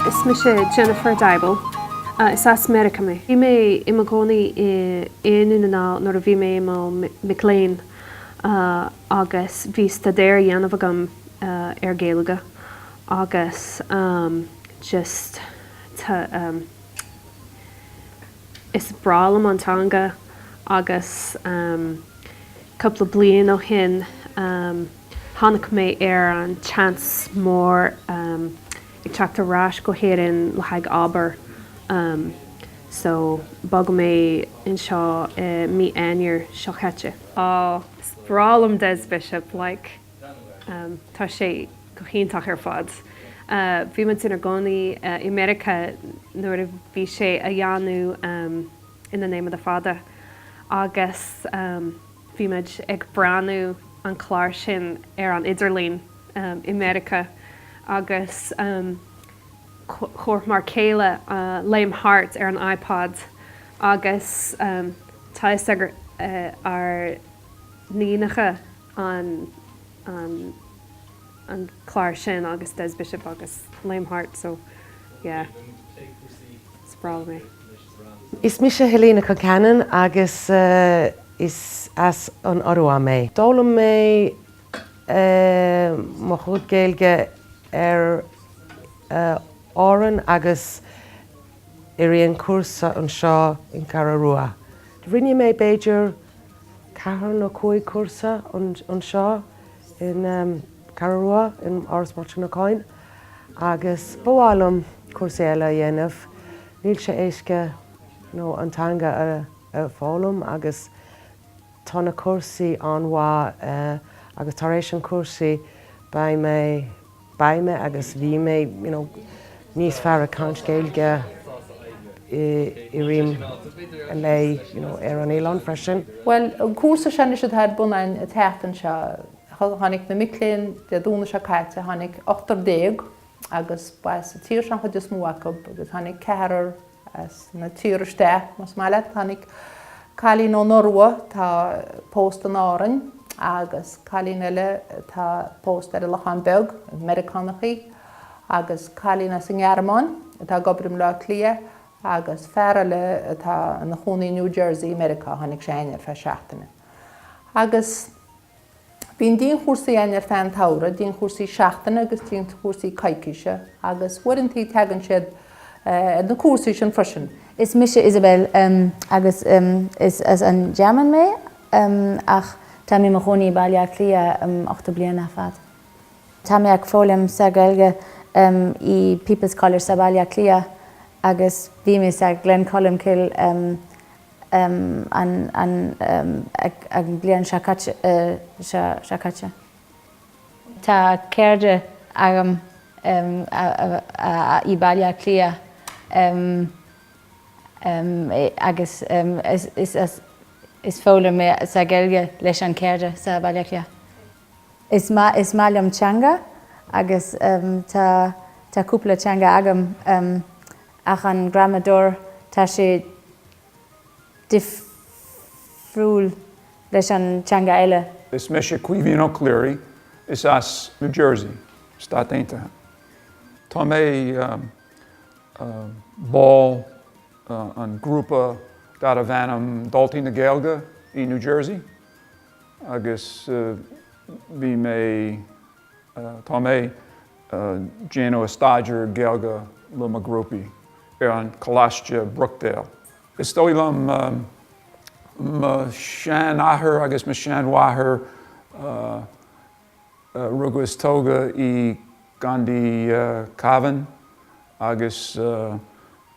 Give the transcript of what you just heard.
Is mise Jennifer Dybel. Is as Meiriceá mé. Bhí mé i mo chónaí i nDún na nGall nuair a bhí mé i mo mhic léinn agus bhí staidéar á dhéanamh agam ar Gaeilge agus just Is breá liom an teanga agus cúpla bliain ó shin tháinig mé ar an tseans mór ag teacht ar ais go hÉirinn le haghaidh obair so bhog mé anseo i mí Eanáir seo chaite. Aww, is breá liom Des Bishop, like. Tá sé go hiontach ar fad. Bhí muid inár gcónaí i Meiriceá nuair a bhí sé á dhéanamh In the Name of the Fada agus bhí muid ag breathnú an clár sin ar an idirlíon i Meiriceá agus chuirfeadh m'fhear céile Léim Thart ar an iPod agus tá fhios ag ár n-iníonacha an an an clár sin agus Des Bishop agus Léim Thart so yeah spraíúil é. Is mise Helena Concannon agus is as an Iorua mé. D'fhoghlaim mé mo chuid Gaeilge ar Árainn agus rinne mé cúrsa anseo i gCeathrú Rua. Rinne mé b'fhéidir ceathair nó cúig cúrsa anseo i gCeathrú Rua in Áras Mháirtín Uí Chadhain agus ba mhaith liom cúrsa eile a dhéanamh. Níl sé éasca, ó, an teanga a foghlaim agus tá na cúrsaí an-mhaith agus tar éis an chúrsaí beidh mé. Beidh mé, agus bhí mé, you know, níos fearr ag caint Gaeilge i rith an lae, you know, ar an oileán freisin. Bhuel, an cúrsa seo anois atá ar bun an tseachtain seo, tháinig na mic léinn Dé Domhnaigh seo caite, tháinig ochtar déag agus ba as an tír seo an chuid is mó acu agus tháinig ceathrar as tír isteach más maith leat. Tháinig cailín ón Iorua atá pósta in Árainn agus cailín eile atá pósta ar an Lochán Beag, Meiriceánach í, agus cailín as an nGearmáin atá ag obair i mBleá Cliath agus fear eile atá ina chónaí i New Jersey i Meiriceá, tháinig sé aniar ar feadh seachtaine. Agus. Bíonn dianchúrsaí againn ar feadh an tsamhraidh, dianchúrsaí seachtaine agus dianchúrsaí coicíse, agus uaireantaí teagann siad ar na cúrsaí sin freisin. Is mise Isabel, agus is as an Ghearmáin mé, ach táim i mo chónaí i Baile Átha Cliath ocht bliana ar fad. Tá mé ag foghlaim sa Ghaeilge i People's College sa Bhaile Átha Cliath, agus bhí mé sa Gleann Cholm Cille an bliain seo caite. Tá cairde agam i Baile Átha Cliath agus is foghlaim mé sa Ghaeilge leis an chairde sa Bhaile Átha Cliath. Is maith liom teanga agus tá cúpla teanga agam. Ach an gramadóir, tá sé difriúil leis an teanga eile. Is mise Caoimhín Ó Cléirigh, is as New Jersey, Stáit Aontaithe mé. Tá mé ball an grúpa darbh ainm Daltaí na Gaeilge i New Jersey agus bhí mé. Tá mé ag déanamh staidéar Gaeilge le mo ghrúpaí ar an Coláiste Brookdale. Is dóigh liom mo sheanathair agus mo sheanmháthair a rugadh is tógadh i gContae Cavan agus